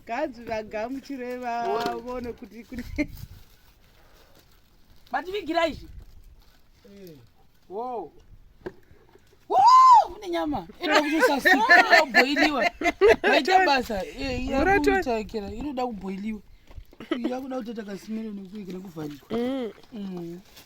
kanzi vagamuchire vavone kuti kune vativigira izvi eh. wo une nyama inoda kutosasoda kubhoiliwa vaita basa eh, yakutakira inoda kubhoiliwa yakuda kutoita kasimiro nekuikira kuvharirwa mm. mm.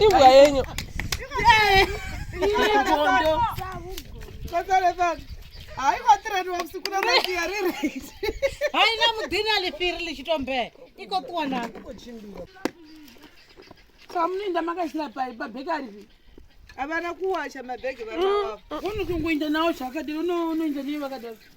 imbwa yenyu haina mudhini alifiri lichitombe iko kuona samuninda makasina pai pabheki aripi havana kuwacha mabhegi vaa mm. unotongoinda nawo zvakadini unoinda nei vakadaro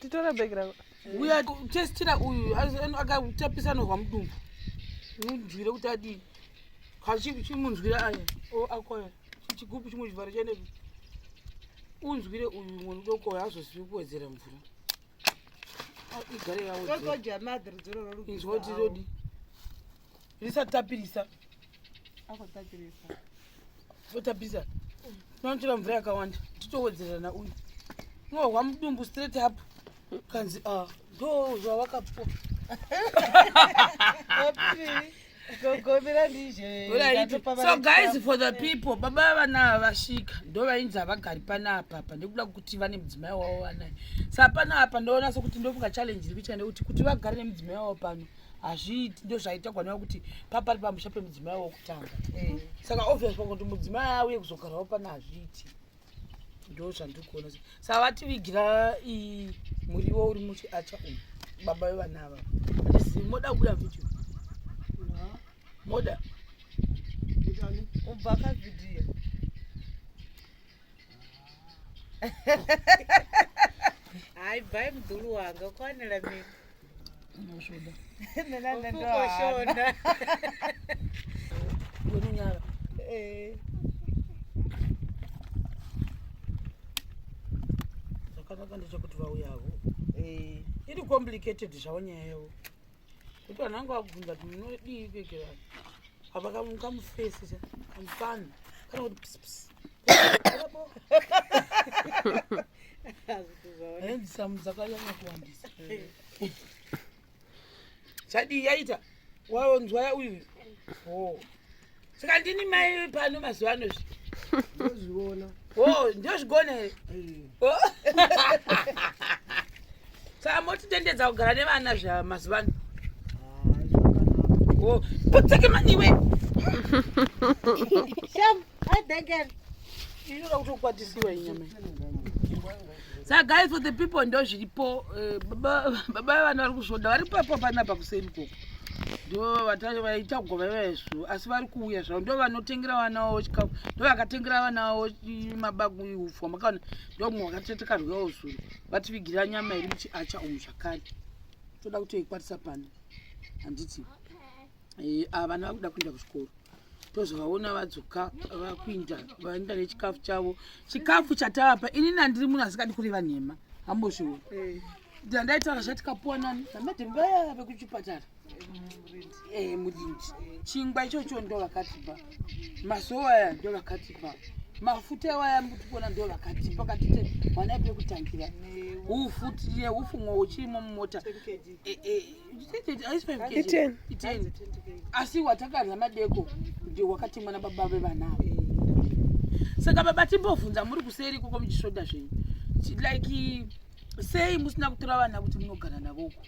titore bhegi rako uya testira uyu akatapisa anorwa mudumbu munzwire kuti adii kachimunzwire aya akoya chigubu chimwe chivharo chaende unzwire uyu mwana udoko uyo azozivi kuwedzera mvura igare yawoinzwa kuti zodii risati tapirisa totapisa tinonotora mvura yakawanda titowedzerana uyu unohwa mudumbu straight up kanzi ah, ndo zvawakapo so guys for the people baba vana vasvika ndo vainzi havagari pana apapa ndikuda kuti vane mudzimai wavo vanaye sa pana apa ndoona sokuti ndofunga challenge iri kuitika ndekuti kuti vagare nemudzimai wavo pano hazviiti ndozvaitagwa neva kuti papari pamusha pemudzimai wokutanga eh. saka obvious pangu kuti mudzimai auye kuzogarawo pana hazviiti ndo zvandiri kuona sa vativigira muriwo uri muchiacha umu baba vevana ava atizi moda kubuda mviti moda ubva kavhidhiyo hayi bhayi mudhulu wanga kwanela mimi unosvoda nenanendoshona wemunyara eh. zvakanaka ndechekuti vauyavo eh. iri complicated zvavo nyaya yavo kuti vanhu vangu vakubvunza kuti munodii kuekera apa kamufesi kamufana kana kuti pisipisi chadii yaita waonzwaya uyu oh. saka ndini mai pano mazuva ano zvi ndozviona o ndozvigona here saka motitendedza kugara nevana zva mazuva ano o potseke maniwe Hi, Denken. You know how to what is your name? Saka guys for the people ndo zviripo eh, baba baba vanhu vari kuzvoda vari papo panapa kuseni koko ndo vata- vaita kugova vezvo asi vari kuuya zvavo ndo vanotengera vana vavo chikafu ndo vakatengera vana vavo i- mabagu ihufwa makaona ndo mwe vakatete karyawo zuro vativigira nyama iri muchiacha umu zvakare toda kutoikwatisa pano handiti Okay. Eh, ava vana vakuda kuenda kuzvikoro tozovaona vadzoka vakuinda vaenda nechikafu chavo chikafu chatavapa inini andiri munhu asikadi kureva nhema hambozviwo eh. ndandaitaura zvatikapuwa nani namatembeya vekuchipatara eh, murindi chingwa ichocho ndo vakatipa masowa aya ndo vakatipa mafuta ewaya mutikuona ndo vakatipa katite mwana pekutangira ufu tine ufu mwo uchirimo mumota asi watakadya madeko ndio wakatemwa na baba vevana ava eh. saka baba timbovhunza muri kuseri ikoko muchisvoda zvenyu like sei musina kutora vana kuti munogara navoko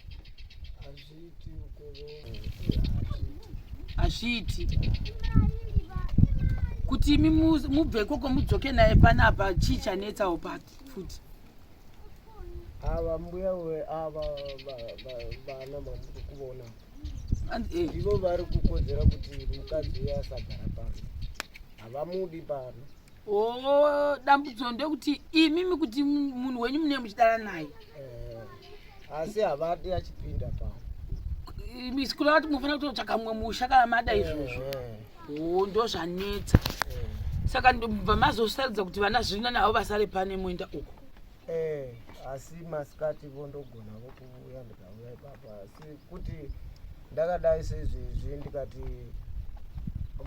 hazviiti kuti imi mubve ikoko mudzoke naye panapa chii chanetsawo pati futi ava mbuya we ava vana mamuri kuvona eh. ivo vari kukodzera kuti mukadzi uye asagara pano havamudi pano oh, dambudzo ndekuti imimi kuti munhu wenyu mune muchidara naye eh, asi havadi achipinda pano misikula vati munofanira kutotsvaka mumwe musha kana mada izvozvo eh, oh ndozvanetsa eh. saka ndobva mazosarudza kuti vana zvina navo vasare pane moenda uko eh, asi masikati vo ndogona vo kuuya ndikauya ipapa asi kuti ndakadai sezvezvi ndikati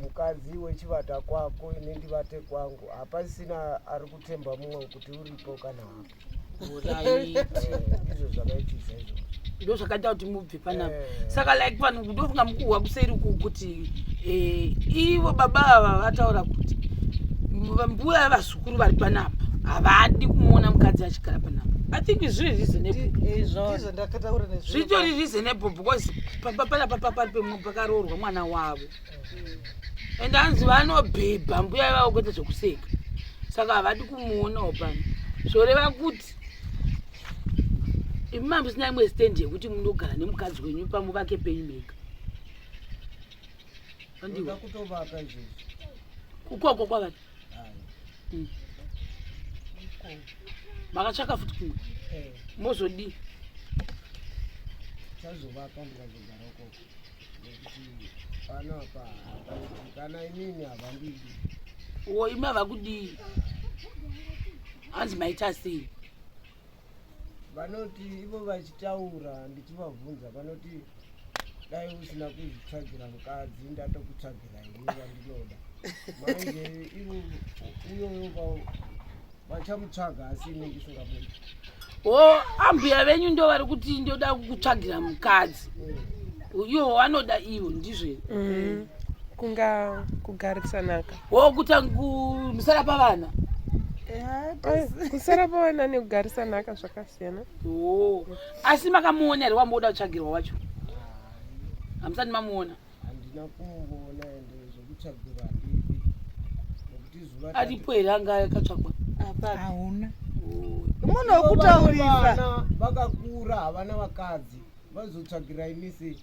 mukadzi wechivata kwako ini ndivate kwangu hapasina ari kutemba mumwe kuti uripo kana hapo ndo zvakaita kuti mubve panapa eh. saka like vanhu ndofunga mukuhwa kuseri uku kuti eh, ivo baba ava vataura kuti mbuya vazukuru vari panapa havadi kumuona mukadzi achigara panapa i think zviri reasonableizvitori reasonable because panapa pakaroorwa mwana wavo and hanzi vanobhebha mbuya ivavo kuita zvekuseka saka havadi kumuonawo pano zvoreva kuti imi mambo sina imwe stand yekuti munogara nemukadzi wenyu pamuvake penyu mega andiwa kukoko kwavati hmm. makatsvaka futi kumwe eh. mozodii panapa kana inini havandidi uwo imi havakudii hanzi maita sei vanoti ivo vachitaura ndichivabvunza vanoti dai usina kuzvitsvagira mukadzi ndatokutsvagira ini vandinoda manje ivo uyoyo vachamutsvaga asi inenge isingabuda o oh, ambuya venyu ndo vari kuti ndoda kukutsvagira mukadzi iwo wanoda iwo ndizve mm. kunga kugarisanaka o oh, kuta musara pavana kusara pavana nekugarisanaka zvakasiyana o oh. asi makamuona here wamoda kutsvagirwa wacho hamusati mamuona handina kumboona ende zvekutsvagirwa handipi nekuti zuva aripo here anga akatsvagwa hauna munhu wekutaurisa vakakura havana vakadzi vazotsvagira imisi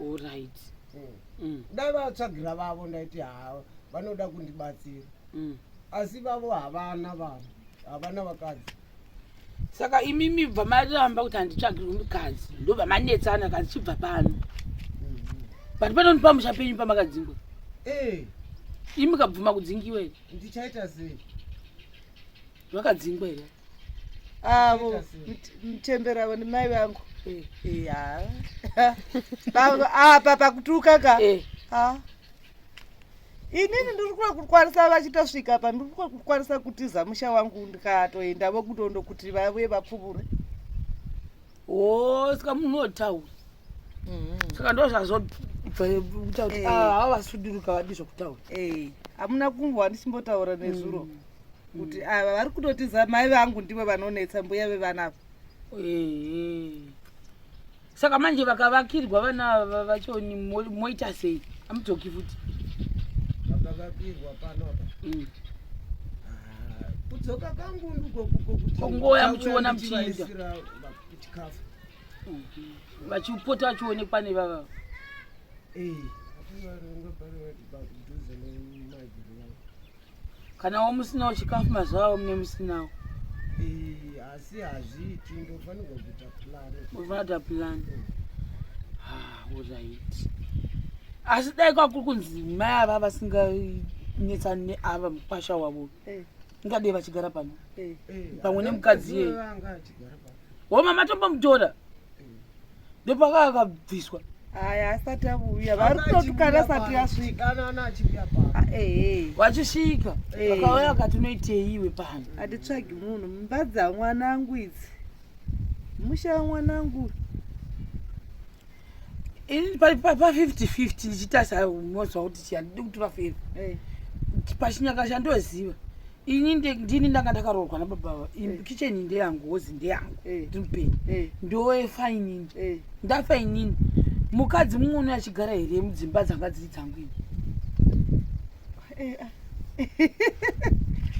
orit hmm. hmm. dai vatsvagira vavo ndaiti haa vanoda kundibatsira hmm. asi vavo havana vanhu havana vakadzi saka imi mibva maramba kuti handitsvagirwe mukadzi ndobva manetsana kadzi chibva pano but panoni pamusha penyu pamakadzingwa eh. imi kabvuma kudzingiwa here ndichaita sei vakadzingwa here avo ah, mutembera avo ndimai vangu eh. Eh, apa pakutuka ka inini ndiri kuda kukwanisa vachitosvika pa ndiri kuda kukwanisa kutiza musha wangu ndikatoenda vokutondo kuti vave vapfuvure o saka munhu wotaura mm-hmm. saka ndo zvazobvakutaura kuti eh. ah, hava vasuduruka vadi zvokutaura eh, hamuna kumbo handichimbotaura nezuro mm. kuti ava mm. ah, vari kutotiza mai vangu ndivo vanonetsa mbuya vevanavo eh, saka manje vakavakirwa vana ava vachoni moita sei amudzoki futi vakavakirwa pano apa mm. ah, kudzoka kangu ndikokukokutingoya muchiona muchiinda chikafu vachipota vachionekwa nevava kana wo musinawo chikafu mazuva avo mune musinawo eh, asi hazviiti ndofanirwa kuita plan ndofanira kuita plan olright asi dai kwakuri kunzi mai ava vasinganetsani neava mukwasha wavo eh. ingadei vachigara pano eh. pamwe nemukadzi yeye homa matombomutora ndopaka akabviswa aya asati avuya varikutotukana sati yasvika vachisvika vakauya vakati unoitei iwe pano hatitsvagi munhu mumba dzamwanangu idzi musha wamwanangu ini pa 5050 ndichitarisa mozwa kuti chiya ndidi kutura feva eh. pachinyaka chandoziva ini ndini ndanga ndakaroorwa nababa eh. kicheni ndeyangu hozi ndeyangu eh. ndiri mupenyu ndoefa inini ndafa inini mukadzi mumwe unoyachigara here mudzimba dzanga dziri dzangu ini eh, ah.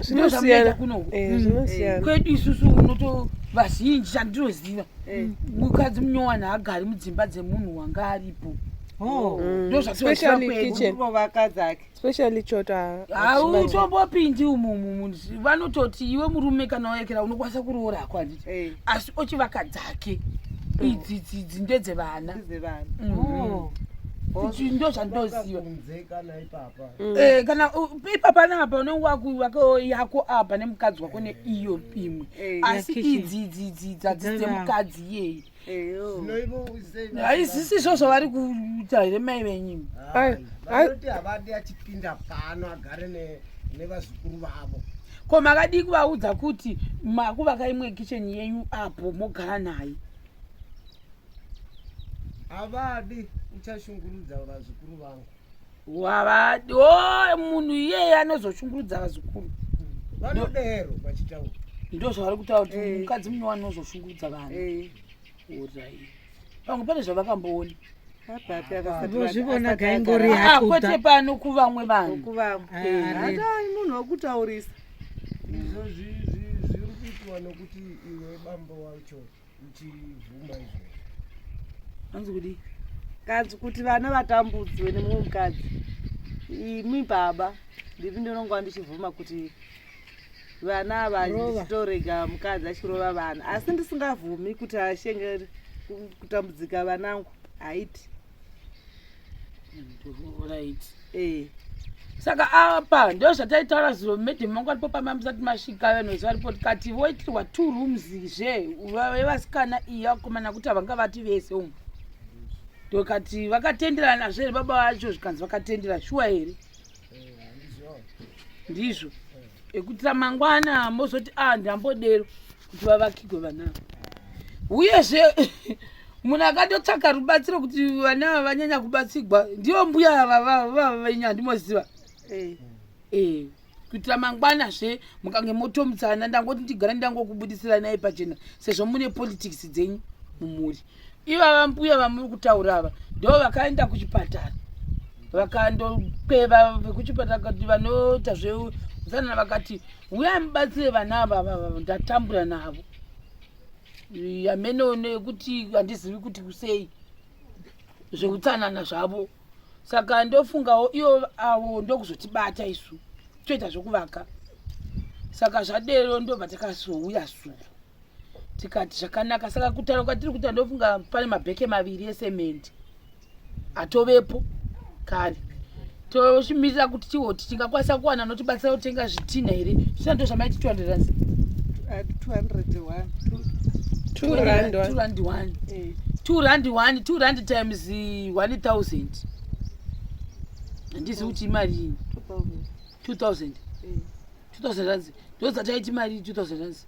zvinosiyana eh, mm. zvinosiyana kwedu isusu unoto vazhinji chandinoziva eh. mukadzi munyowana haagari mudzimba dzemunhu wanga aripo oh. mm. ndozvatiaspecially chota hautombopindi umumumu vanototi iwe murume kana waekera unokwanisa kuroora hako handiti eh. asi ochivaka dzake mm. idzi dzidzi ndedzevana mm. oh. oh. ndozvandoziva mm. eh, kana ipapa napa unenge wakuwako yako apa nemukadzi wako neiyo imwe eh, asi idzi idzidzi dzadzi dzemukadzi iyeyi haisisi izvo zvavari kuita here mai venyimi vanoti havadi achipinda pano agare nevazukuru vavo ko makadii kuvaudza kuti makuvaka imwe kicheni yenyu apo mogara naye havadi uchashungurudza vazukuru vangu wavadi o oh, munhu iyeye anozoshungurudza vazukuru vanodero vachitaura ndo zvavari kutaura kuti eh. mukadzi mune wani unozoshungurudza vanhu eh. orai pamwe pane zvavakamboona kwete pano kuvamwe vanhumunhu wekutaurisa izvozvi zviri kuitwa nokuti iwe bambo wacho uchibvuma izvozvo hanzi kudii kadzi kuti vana vatambudzwe nemumwe mukadzi imi baba ndipi ndinonga ndichibvuma kuti vana ava ndichitorega mukadzi achirova vana asi ndisingavhumi kuti ashenge kutambudzika vanangu haiti Eh. saka apa ndo zvataitaura zuro madam vangu varipo pamba musati masvika vanozi varipo tikati voitirwa two rooms zve vevasikana iyi vakomana kuti havanga vati vese umu ndokati vakatenderana zve baba vacho zvikanzi vakatendera shuwa here ndizvo ekuti ramangwana mozoti a ah, ndambodero kuti vavakigwe vana uyezve munhu akatotsvaka rubatsiro kuti vana ava vanyanya kubatsigwa ndivo mbuya vavavenyu handimoziva eh. eh, kuitira mangwana zve mukange motomutsana ndangoti ndigara ndangokubudisira naye pachena sezvo mune politics dzenyu mumhuri ivava mbuya vamuri kutaura ava ndo vakaenda kuchipatara vakandokweva vekuchipatara kuti vanoita zveutsanana vakati huyai mubatsire vana ava vava ndatambura navo hameno nekuti handizivi kuti kusei zveutsanana zvavo saka ndofungawo iyo avo ndokuzotibata isu toita zvekuvaka saka zvadero ndobva takazouya suu tikati zvakanaka saka kutaura kwatiri kuita ndofunga pane mabheke maviri esemende atovepo kare tochimirira kuti tiwo kuti tingakwanisa kuwana notibatsira kutenga zvitinha here zvisina ndo zvamaiti 200 rand times 1000 handizi kuti imari ini 2000 2000 rands ndodzataiti mari 2000 rands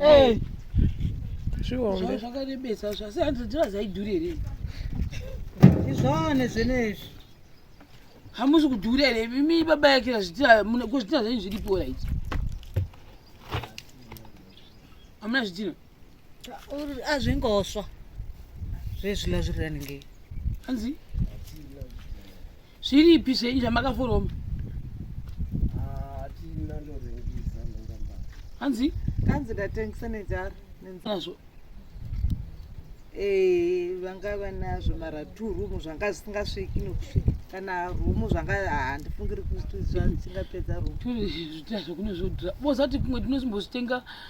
eh. zvihombe zvakarebesa zvasi handiziva zaidhuri here izvane zvenezvi hamusi kudhura here imi baba yake zvitira zvenyu zviripo rit hamuna zvitina azvingoswa zvezvila zviri raningei hanzi Zviripi zvenyu zvamakaforoma? Hatina ndorengisa ndongamba. Hanzi? Kanzi ndatengisa nejara nenzazvo. Eh, vanga vanazvo mara two room zvanga zvisingasviki nokusvika kana room zvanga handifungiri kuti zvingapedza room. Two zvitazvo kune zvodhura. Bozati kumwe tinosimbozvitenga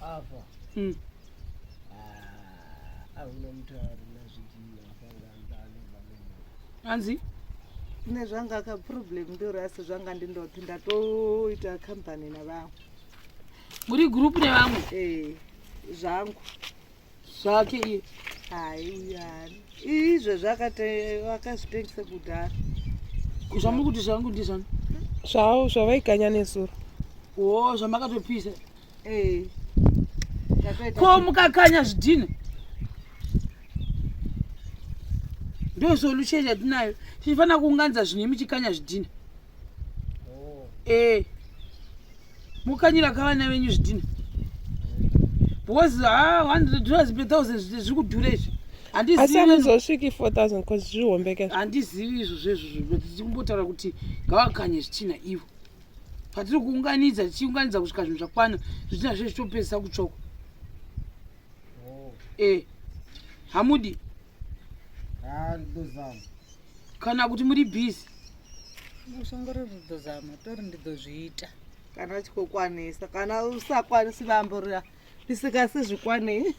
Ava. Mm. Ah, ahuna mutari nazvijima akanga andani vanenge. Anzi? ne zvanga ka problem ndori asi zvanga ndindopi ndatoita company navamwe muri group nevamwe eh zvangu zvake iye haiyani izvo zvakazvitengisa kudhara zvamuri kuti zvangu ndizvani zvavo zvavaiganya nesuro o zvamakatopisa eh. ko mukakanya zvidhina ndosolution yatinayo tichifanira kuunganidza zvinhu imi chikanya zvidhina eh mukanyira ka vana venyu zvidhina because ha ah, 100 dollars per thousand zviri kudhura izvi handiziviazozviki 4000 bcause zvihombeke handizivi izvo zvezvozvo but tiri kumbotaura kuti ngavakanye zvitina ivo patiri kuunganidza tichiunganidza kusvika zvinhu zvakwana zvitina zve zvitopedzisa kutsvoko oh. e eh, hamudi Ah, rudo zama. kana kuti muri busy Usongori rudo zama, tori ndidozviita. Kana chikokwanisa, kana usakwanisi bambo riya risikasi zvikwanei.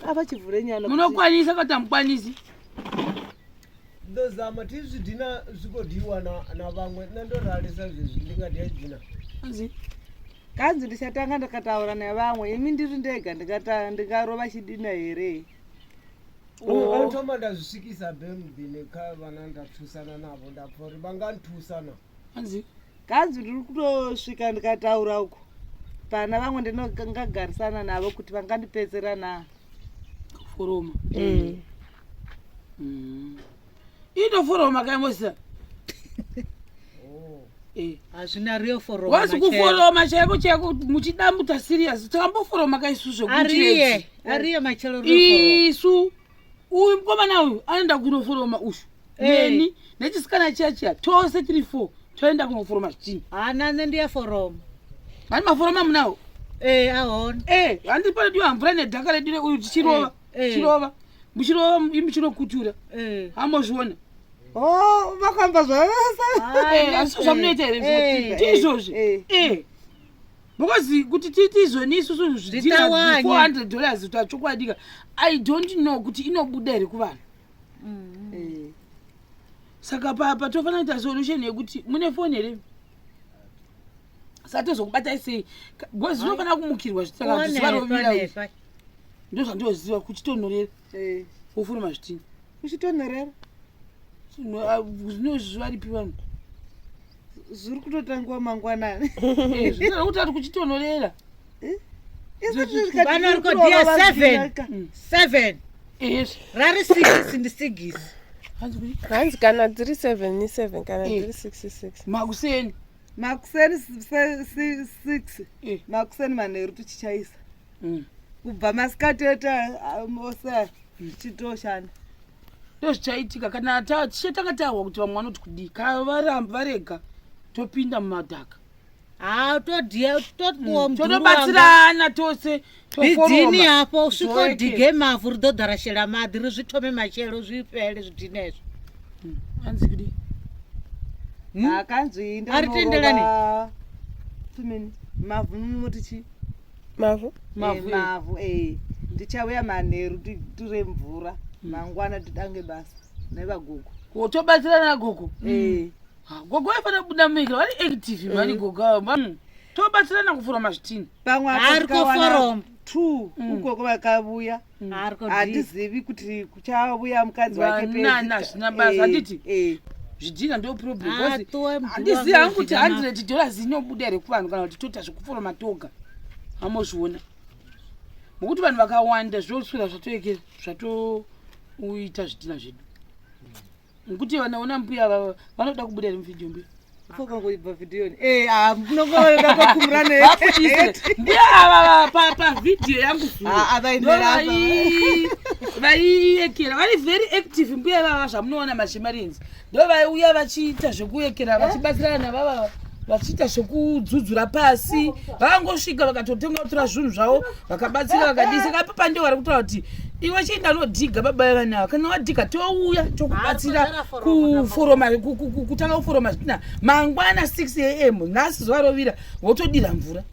Apa chivhure nyana. munokwanisa katamukwanisi ndozama ti zvidhina zvigodhiwa navamwe na ndorarisa zvezvi ndingadya dhina anzi kanzi ndichatanga ndikataura nevamwe imi ndiri ndega ndingarova chidina here otoma ndazvisvikisa bemdhine ka vana ndapfusana navo ndapori vangandipfusana anzi kanzi ndiri kutosvika ndikataura uko pana vamwe ndinongagarisana navo kuti vangandipedzera na kuforoma mm. Mm. Ito foro makai mosa. Oh. Eh. Hazvina real foro makai. Wasi kuforo makai ko cheko muchida muta serious. Tambo foro makai su zvo kuchire. Ariye. Ariye machelo real foro. Isu. Uyu mkomana uyu anoenda kuno foro ma ushu. Eh. Neni. Nechisikana chiya chiya. Tose tiri foro. Toenda kuno foro machini. Ana nende ya foro. Mani maforo mamunawo. Eh, ahona. Eh, handi pale diwa mvura nedhaka ledire uyu tichirova. Eh. eh. chirova muchirova muchinokutura eh. hamozviona oh, vakamba zvavasaaasi zvamunoita here ndizvozvi because kuti tiiti izvoni isusu zvidira 400 dollars kuti achokwadika i don't know kuti inobuda here kuvanhu mm. saka papa tofanira kuita solution yekuti mune foni here satozokubatai sei bcoz unofanira kumukirwa zvitaka zvivarovira ndozvandoziva kuchitonhorera eh. ufuna mazvitinyi kuchitonhorera ah, zvinozvaripi vanhu zviri kutotangiwa mangwanani eh, zvinoda kuti ari kuchitonhorera eh? vanorikodhiya seven mm. seven rari six ndi sigisi hanzi kana dziri seven ni seven kana dziri six six makuseni makuseni six makuseni manheru tichichaisa mm. kubva masikati ete ose ah, zvichitoshanda ndozvichaitika kana tishe tanga tahwa kuti vamwe vanoti kudii kana varambi varega topinda mumadhaka ah, mm, totobatsirana tose bidhini hapo usvikodige mavhu ridodharashela madhi rizvitome machelo zvipele zvidhinezvo mm, anzi kudii Hmm? akanzwi ndonoba two minutes mavhu mumoti chii mavhu mavhu mavhu eh ndichauya manheru titire mvura hmm. mangwana titange basa nevagogo wotobatsira nagogo eh hmm. gogo aifanira kubuda muika vari active eh. mari gogo avo hmm. tobatsirana kuforoma zvitini pamwe arikoforom two ugogo vakavuya Mm. handizivi kuti kuchauya mukadzi wakeazvinabazanditi eh, eh. zvidhina ndo problemhandisiya ah, hangu kuti hundred dollars inobuda here kuvanhu kana kuti toita zvekufora matoga amozviona mokuti vanhu vakawanda zvoswera zvatoekera zvatoita zvidhina zvedu Nkuti vana ona mbuya vava vanoda kubuda ri mvideo mbuya. Foka ngo ibva video ni. Eh ah mnongolo da kwa kumrane. Mbuya ava pa pa video yangu zuru. Ah ava inera ava. Vai ekera vari very active mbuya vava zvamunoona mashimarinzi. Ndo vai uya vachiita zvekuyekera vachibatsirana vava vachiita zvekudzudzura pasi vangosvika vakatotenga kutora zvinhu zvavo vakabatsira vakadii saka papa ndivo vari kutaura kuti iwe chienda unodhiga baba vevana ava kana wadhiga touya tokubatsira kuforoma kutanga kuforoma zvitina mangwana 6 am nhasi zuva rovira wotodira mvura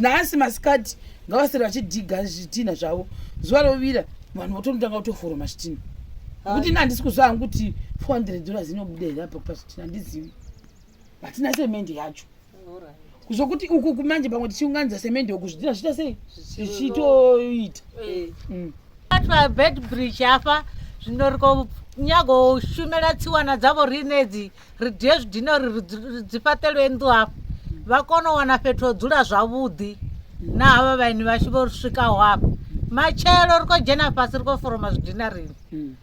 nhasi masikati ngavasiri vachidhiga zvitina zvavo zuva rovira vanhu votondotanga kutoforoma zvitina kuti na handisi kuziva hangu kuti 400 dollars inobuda here apa kupa zvitina handizivi hatina semende yacho zvokuti uku kumanje pamwe tichiunganidza semende uku zvidhina zviita sei zvichitoita eh. mm. pabed bridge apa zvinoriko nyagoshumira tsiwana dzavo rinedzi ridye zvidhina ridzipatelwe ndu apa vakonowana fetodzula zvavudhi naava vaini vachi vosvika hwapa machero riko jena pasi riko foroma zvidhina rini hmm.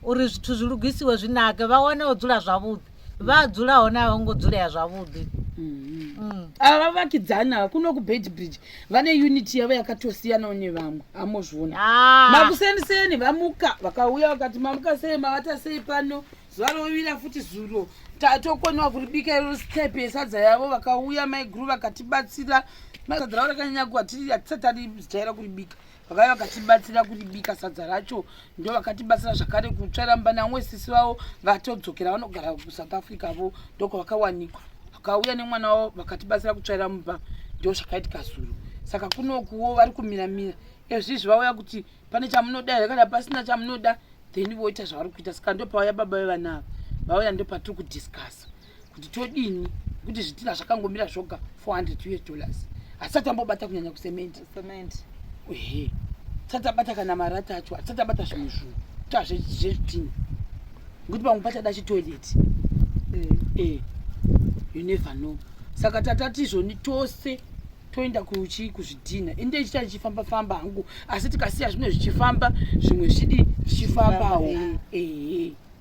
uri zvithu zvilugisiwe zvinake vawanewo dzula zvavudhi vadzulawo navo ngodzulea zvavudi mm-hmm. mm. ava vavakidzani ava kuno kubed bridge vane unity yavo yakatosiyanawo nevamwe amozviona ah. makuseniseni vamuka vakauya vakati mamuka sei mavata sei pano zuva rovira futi zuro tatokoniwa kuribika iro step yesadza yavo vakauya maiguru vakatibatsira masadza ravo rakanyanya kuva tiri hatisati arijaira kuribika vakave vakatibatsira kuribika sadza racho ndo vakatibatsira zvakare kutsvara mbanamwe sisi vavo vatodzokera vanogara kusouth africa vo ndoko vakawanikwa vakauya nemwana wavo vakatibatsira kutsvaira mumba ndo zvakaitika zuro saka kunokuwo vari kumiramira ezvizvi vauya kuti pane chamunoda here kana pasina chamunoda then voita zvavari kuita saka ndopauya baba vevana ava vauya ndopatiri kudiscussa kuti todini kuti zvitina zvakangomira zvoga 400 us dollars hatisati ambobata kunyanya kusementi ehe tisati abata kana marata acho hatisati abata zvimwe zvinhu ta zvezvitina ngokuti pamwe pachada chitoilet eh. eh, you never know saka tatatizvoni tose toenda kuchi kuzvidhina ende ichita ichifamba famba hangu asi tikasiya zvimwe zvichifamba zvimwe zvidi zvichifambawo ehe eh.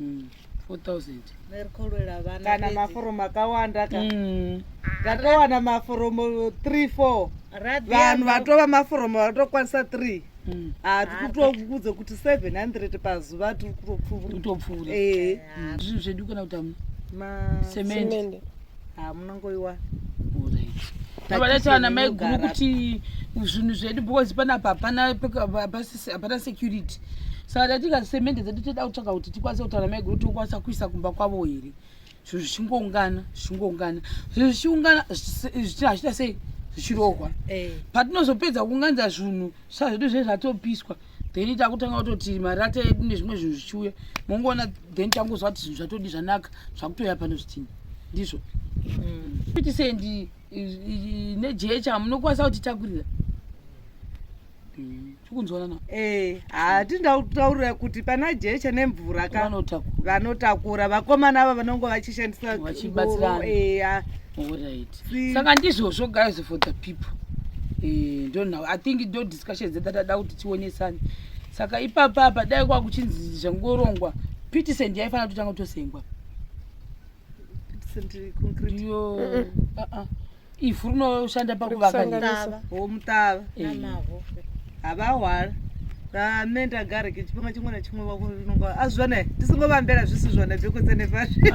mm. 4000 merikolwela vana kana maforomu akawanda ka mm. ndatowana mm. maforomu 3 4 vanhu vatova maforomu vatokwanisa 3 mm. ah, tiri kutokudza kuti 700 pazuva tiri kutopfuura eh. zvinhu zvedu kana kuti semende ah, munongoiwa vadatovana mai guru kuti zvinhu zvedu because panapa hapana security saka tatika semende dzedu toda kutsvaka kuti tikwanise kutaura mai guru tokwanisa kuisa kumba kwavo here zvinhu zvichingoungana zvichingoungana zvinhu zvichiungana hazvita sei zvichirohwa eh. patinozopedza kuunganidza zvinhu saka zvedu zvee zvatopiswa so, then takutanga kutoti marata edu nezvimwe zvinhu zvichiuya mongoona then tangozwa kuti zvinhu zvatodi zvanaka zvakutoya pano zvitini ndizvo mm. kuti sendi nejecha hamunokwanisa kutitakurira mm. tikunzwanana eh, hatindautaurira kuti pana jecha nemvura ka vanotakura vakomana ava vanongo vachishandisa vachibatsirana eh, saka ndizvozvo guys for the people eh, ndonhow i think discussion dzedu tada kuti tionesane saka ipapa apa dai kwa kuchinzi zvangorongwa pitisend yaifanira kuti tanga tosengwa iyo uh-uh. ivhu rinoshanda pakuvakanyaya omutava havahwara rame ndagare kechipanga chimwe nachimwe vakunonga azvivana ah, tisingovambera zvisizvana bhekotsanefasviri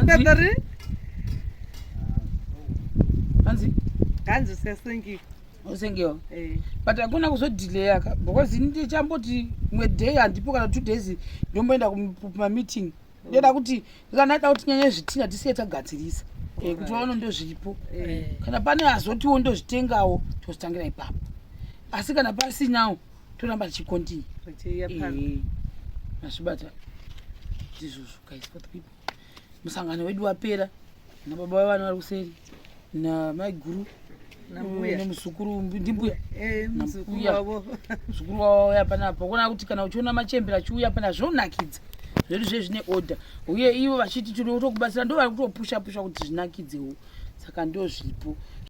hanzi sesengiyo usengewa eh. but akuna kuzodhileya ka because ini ndichamboti mwe day handipo kana two days ndomboenda kumameeting ndoda kuti kana ita kuti nyanya zvitinha tisiye tagadzirisa eh, kuti vaona ndozviripo eh. kana pane azotiwo ndozvitengawo tozitangira ipapo asi kana pasinawo toramba tichikontinya mazvibata ndizvozvo guys for the people musangano wedu wapera nababa vavo vana vari kuseri namaiguru nemuzukuru ndimbuya eh, muzukuru wavo auya panapa kuona kuti kana uchiona machembere achiuya pana zvonakidza zvedu zve zvine order uye ivo vachiti tiri kutokubatsira ndo vari kutopusha pusha kuti zvinakidzewo saka ndozvipo